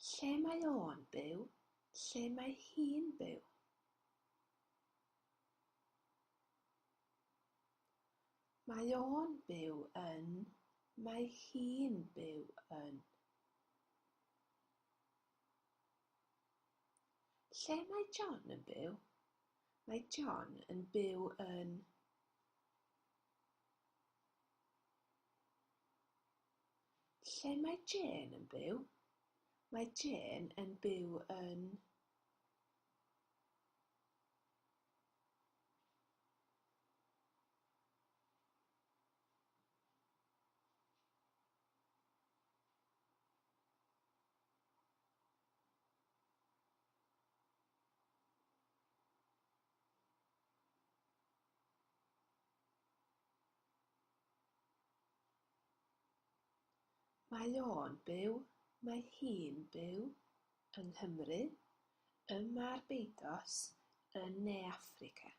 Lle mae o'n byw? Lle mae hi'n byw? Mae o'n byw yn. Mae hi'n byw yn. Lle mae John yn byw? Mae John yn byw yn. Lle mae Jane yn byw? Mae Jane yn byw yn... Mae o'n byw, mae hi'n byw, yng Nghymru, ym Mharbeiddos, yn Ne Affrica.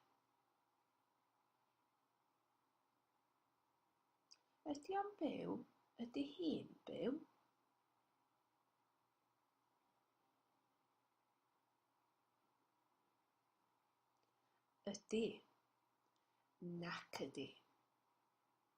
Ydy o'n byw, ydy hi'n byw? Ydy. Nac ydy.